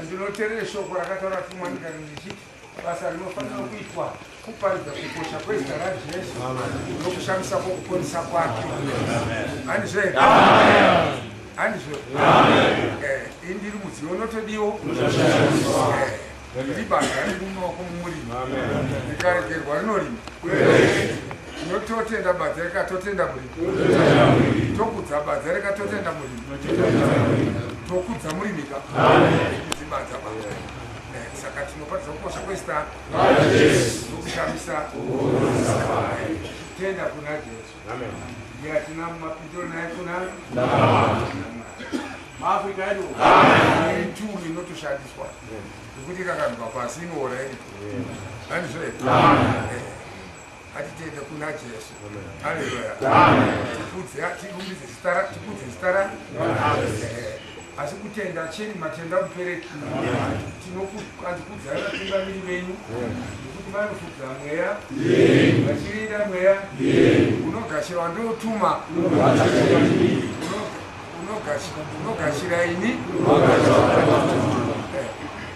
Ndinoterera shoko rakataura tumwa ndikati ndichiti basa rinofanira kuitwa kuparidza kukosha kwezita raJesu nokushamisa kwokuponesa kwake. Handizve? Handizve? Eh, ini ndiri mudziyo unotodiwo Eh, ndiri banga riri mumaoko momurimi rikaregerwa rinorima Tinototenda badza rekatotenda muri. Tokudza badza rekatotenda muri. Tokudza muri mika. Zibadza badza. Eh, saka tinopatidza kukosha kwesta. Nokushamisa. Tenda kuna Jesu. Amen. Ndiye atina mapindiro naye kuna. Amen. maafrica edu ituru inotoshandiswa nekuti ikakanzwa pasi inoora ini handizvo Atitende kuna Jesu. Haleluya. Tikudze tirumbidze zita ra tikudze zita ra. Eh, Asi kutenda cheni matenda mupereki. Tinokudzai vatungamiri venyu nekuti vanofudza mweya vachirinda mweya unogashirwa ndiotuma unogashira ini Eh,